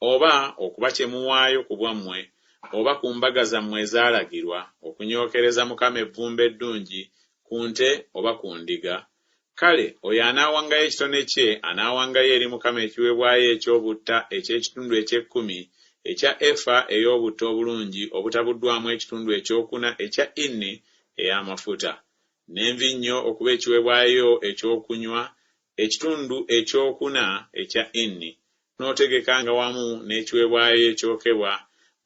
oba okuba kye muwaayo ku bwammwe oba ku mbaga zammwe ezaalagirwa, okunyookereza Mukama evvumbe eddungi ku nte oba ku ndiga, kale oyo anaawangayo ekitone kye anaawangayo eri Mukama ekiweebwayo eky'obutta eky'ekitundu eky'ekkumi ekya efa ey'obutta obulungi obutabuddwamu ekitundu ekyokuna ekya inni ey'amafuta, n'envinnyo okuba ekiweebwayo eky'okunywa ekitundu ekyokuna ekya Inni, n'otegekanga wamu n'ekiwebwayo ekyokebwa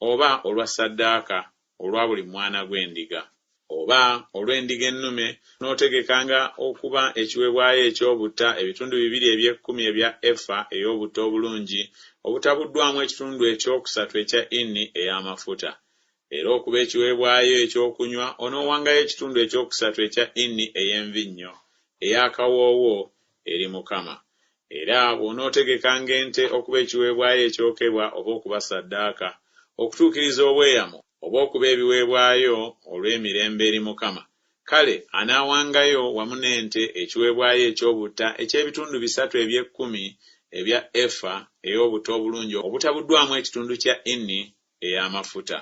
oba olwa ssaddaaka olwa buli mwana gw'endiga, oba olw'endiga ennume, n'otegekanga okuba ekiwebwayo eky'obutta ebitundu bibiri eby'ekkumi ebya efa ey'obutta obulungi obutabuddwamu ekitundu ekyokusatu ekya Inni ey'amafuta, Era okuba ekiweebwayo eky'okunywa, onoowangayo ekitundu eky'okusatu ekya Inni ey'envinnyo ey'akawoowo eri Mukama. Era bw'onootegekanga ente okuba ekiweebwayo ekyokebwa oba okuba ssaddaaka, okutuukiriza obweyamo, oba okuba ebiweebwayo olw'emirembe eri Mukama, kale anaawangayo wamu n'ente ekiweebwayo eky'obutta eky'ebitundu bisatu eby'ekkumi ebya efa ey'obutta obulungi obutabuddwamu ekitundu kya Inni ey'amafuta.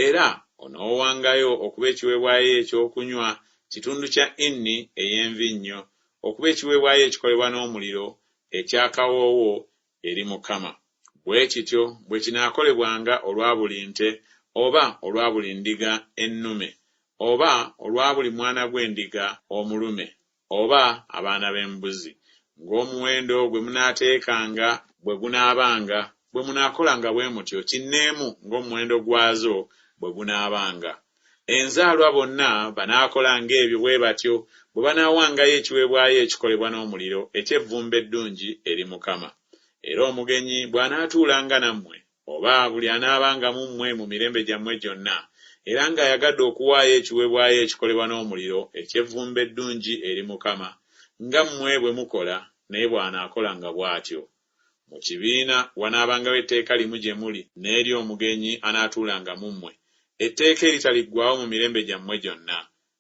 Era onoowangayo okuba ekiweebwayo eky'okunywa kitundu kya inni ey'envinnyo okuba ekiweebwayo ekikolebwa n'omuliro eky'akawoowo eri Mukama. Bwe kityo bwe kinaakolebwanga olwa buli nte oba olwa buli ndiga ennume oba olwa buli mwana gw'endiga omulume oba abaana b'embuzi, ng'omuwendo gwe munaateekanga bwe gunaabanga, bwe munaakolanga bwe mutyo kinneemu ng'omuwendo gwazo bwe gunaabanga. Enzaalwa bonna banaakolanga ebyo bwe batyo bwe banaawangayo ekiweebwayo ekikolebwa n'omuliro eky'evvumbe eddungi eri Mukama. Era omugenyi bw'anaatuulanga nammwe, Oba, buli anaabanga mu mmwe mu mirembe gyammwe gyonna, era nga ayagadde okuwaayo ekiweebwayo ekikolebwa n'omuliro, eky'evvumbe eddungi eri Mukama, nga mmwe bwe mukola, naye bw'anaakolanga bw'atyo. Mu kibiina wanaabangawo etteeka limu gye muli n'eri omugenyi anaatuulanga mu mmwe, etteeka eritaliggwaawo mu mirembe gyammwe gyonna,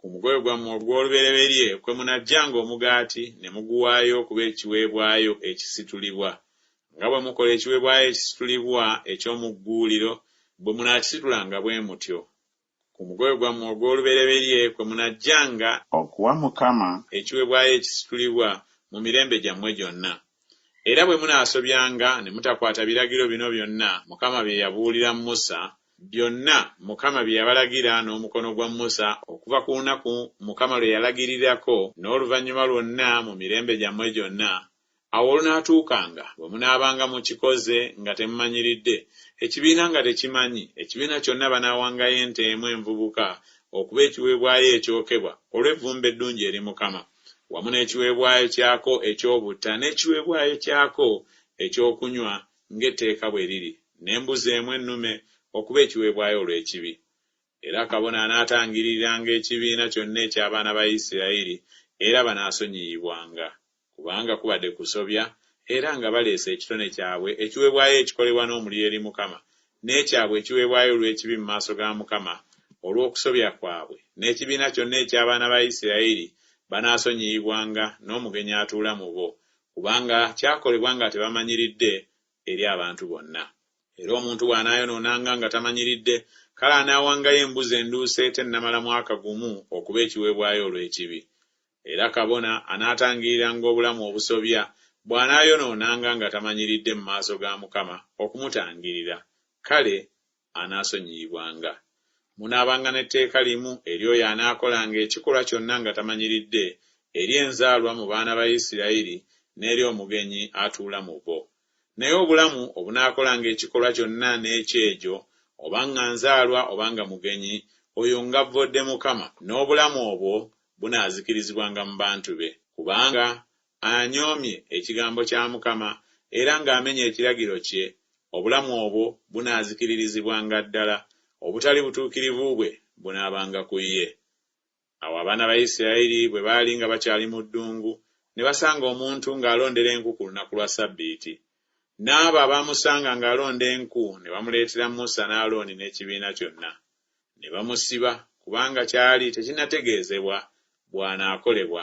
Ku mukolo gwammwe ogw'olubereberye kwe munaggyanga omugaati ne muguwaayo okuba ekiweebwayo ekisitulibwa, nga bwe mukola ekiweebwayo ekisitulibwa eky'omu gguuliro, bwe munaakisitulanga bwe mutyo. Ku mukolo gwammwe ogw'olubereberye kwe munaggyanga. Okuwa Mukama. Ekiweebwayo ekisitulibwa mu mirembe gyammwe gyonna. Era bwe munaasobyanga ne mutakwata biragiro bino byonna Mukama bye yabuulira Musa, byonna Mukama bye yabalagira n'omukono gwa Musa okuva ku lunaku Mukama lwe yalagirirako n'oluvannyuma lwonna mu mirembe gyammwe gyonna, awo olunaatuukanga bwe munaabanga mukikoze nga temumanyiridde, ekibiina nga tekimanyi, ekibiina kyonna banaawangayo ente emu envubuka okuba ekiweebwayo ekyokebwa olw'evvumbe eddungi eri Mukama, wamu n'ekiweebwayo kyako eky'obutta n'ekiweebwayo kyako eky'okunywa ng'etteeka bwe liri, n'embuzi emu ennume okuba ekiweebwayo olw'ekibi. Era kabona anaatangiriranga ekibiina kyonna eky'abaana ba Isirayiri, era banaasonyiyibwanga, kubanga kubadde kusobya, era nga baleese ekitone kyabwe ekiweebwayo ekikolebwa n'omuliro eri Mukama, n'ekyabwe ekiweebwayo olw'ekibi mu maaso ga Mukama olw'okusobya kwabwe, n'ekibiina kyonna eky'abaana ba Isirayiri banaasonyiyibwanga, n'omugenyi atuula mu bo, Kubanga kyakolebwa nga tebamanyiridde eri abantu bonna. Era omuntu bw'anaayonoonanga nga tamanyiridde, kale anaawangayo embuzi enduusi etennamala mwaka gumu okuba ekiweebwayo olw'ekibi. Era kabona anaatangiriranga obulamu obusobya bw'anaayonoonanga nga tamanyiridde mu maaso ga Mukama okumutangirira, kale anaasonyiyibwanga. Munaabanga n'etteeka limu eri oyo anaakolanga ekikolwa kyonna nga tamanyiridde, eri enzaalwa mu baana ba Isirayiri n'eri omugenyi atuula mu bo. Naye obulamu obunaakolanga ekikolwa kyonna n'ekyejo, oba nga nzaalwa oba nga mugenyi, oyo ng'avvodde Mukama, n'obulamu obwo bunaazikirizibwanga mu bantu be, kubanga anyoomye ekigambo kya Mukama era ng'amenye ekiragiro kye, obulamu obwo bunaazikiririzibwanga ddala, obutali butuukirivu bwe bunaabanga ku ye. Awo abaana ba Isirayiri bwe baali nga bakyali mu ddungu, ne basanga omuntu ng'alondera enku ku lunaku lwa Ssabbiiti. N'abo abaamusanga ng'alonda enku ne bamuleetera Musa ne Alooni n'ekibiina kyonna. Ne bamusiba, kubanga kyali tekinnategeezebwa bw'anaakolebwa.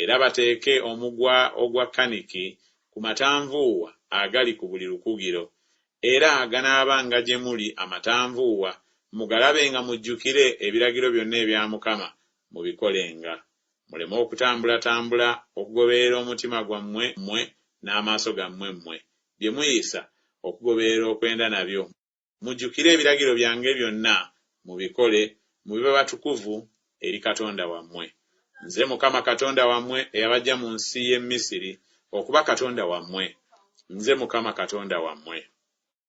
Era bateeke omugwa ogwa kaniki ku matanvuuwa agali ku buli lukugiro, era aganaabanga gye muli amatanvuuwa, mugalabenga mujjukire ebiragiro byonna ebya Mukama mubikolenga, muleme okutambulatambula okugoberera omutima gwammwe mmwe n'amaaso gammwe mmwe, bye muyisa okugoberera okwenda nabyo. Mujjukire ebiragiro byange byonna, mubikole, mube batukuvu eri Katonda wammwe. Nze Mukama Katonda wammwe eyabaggya mu nsi y'e Misiri okuba Katonda wammwe. Nze Mukama Katonda wammwe.